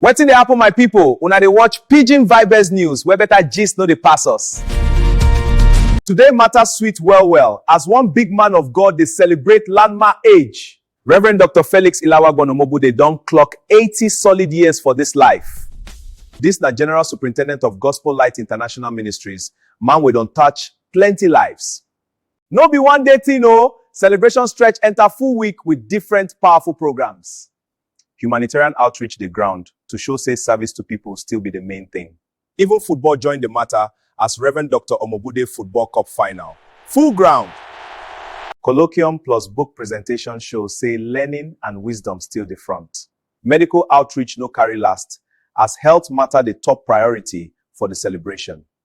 Wetin dey happen my people? Una dey watch Pidgin Vibes News where better gist no dey pass us. Today matter sweet well well as one big man of God dey celebrate landmark age. Reverend Doctor Felix Ilawagwan Omobude don clock eighty solid years for this life. This na General Superintendent of Gospel Light International Ministries, man wey don touch plenty lives. No be one day thing o, celebration stretch enter full week with different powerful programs. Humanitarian outreach dey ground to show say service to people still be the main thing. Even football join the matter as Rev. Doctor Omobude Football Cup final full ground! Colloquium plus book presentation show say learning and wisdom still dey front. Medical outreach no carry last as health matter dey top priority for the celebration.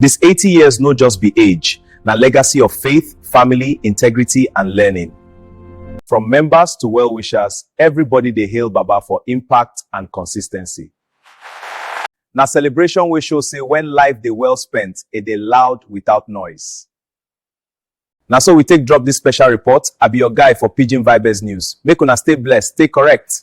Dis eighty years no just be age, na legacy of faith, family, integrity and learning. From members to well wishers, everybody dey hail Baba for impact and consistency. Na celebration wey show say when life dey well spent, e dey loud without noise. Na so we take drop dis special report, I be your guy for Pidgin Vibez News. Make una stay blessed, stay correct!